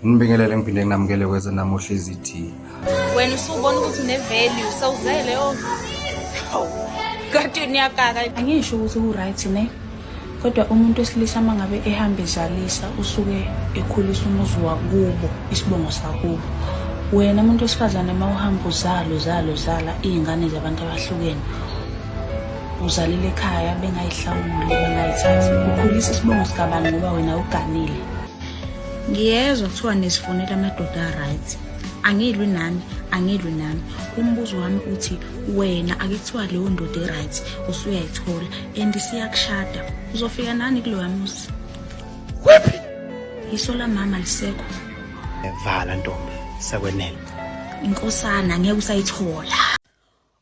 Ngibingelele ngiphinde nginamukele kweze namuhla izithi. Wena usubona ukuthi une value sawuzele oh. Kade niyakaka angisho ukuthi u right ne. Kodwa umuntu esilisa mangabe ehamba ezalisa usuke ekhulisa umuzi wakubo isibongo sakubo. Wena umuntu wesifazane uma uhamba uzalo zalo zala izingane zabantu abahlukene uzalile ekhaya bengayihlawuli bengayithathi ukhulisa isibongo sikabani ngoba wena uganile ngiyezwa kuthiwa nisifonela amadoda a-right angilwi nami angilwi nami umbuzo wami uthi wena akuthiwa leyo ndoda e-right usuyayithola and siyakushada uzofika nani kuloya muzi wephi iso lamama lisekho evala ntombi sekwenele inkosana ngeke usayithola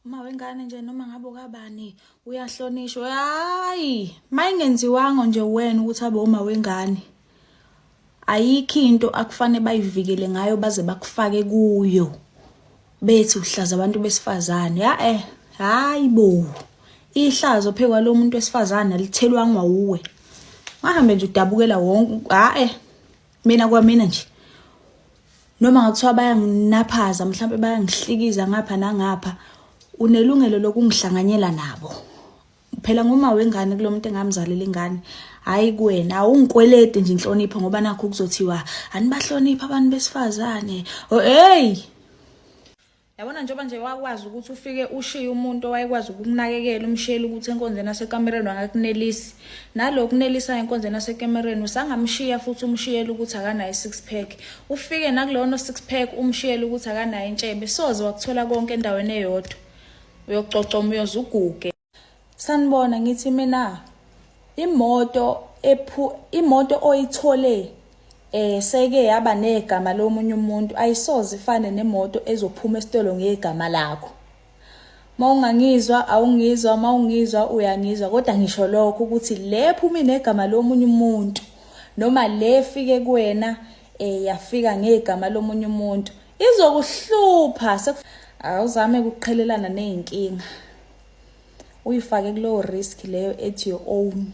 uma wengane nje noma ngabe ukabani uyahlonishwa hayi mayingenziwango nje wena ukuthi abe uma wengane ayikho into akufanele bayivikele ngayo baze bakufake kuyo bethi uhlaza abantu besifazane ya eh hayi bo ihlazo phekwa lo muntu wesifazane alithelwangwa uwe wahambe nje udabukela wonke hayi eh. mina kwamina nje noma ngakuthiwa bayanginaphaza mhlawumbe bayangihlikiza ngapha nangapha unelungelo lokungihlanganyela nabo phela nguma wengane kulo muntu engamzalela ingane hayi kuwena awungikwelede nje inhlonipho ngoba nakho kuzothiwa anibahlonipha abantu besifazane oh hey yabona njengoba nje wakwazi ukuthi ufike ushiye umuntu owayekwazi ukukunakekela umshiyele ukuthi enkonzweni asekamereni wangakunelisi nalo kunelisayo enkonzweni asekamereni usangamshiya futhi umshiyele ukuthi akanayo i-six pack ufike nakulona six pack umshiyele ukuthi akanayo intshebe soze wakuthola konke endaweni eyodwa uyococa umoyoze uguge sanibona ngithi mina imoto ephu imoto oyithole eh seke yaba negama lomunye umuntu ayisoze ifane nemoto ezophuma esitolo ngegama lakho mawungangizwa awungizwa mawungizwa uyangizwa kodwa ngisho lokho ukuthi le phuma inegama lomunye umuntu noma le fike kuwena eh yafika ngegama lomunye umuntu izokuhlupha awuzame ukuqhelelana nezinkinga uyifake kulowo risk leyo ethi your own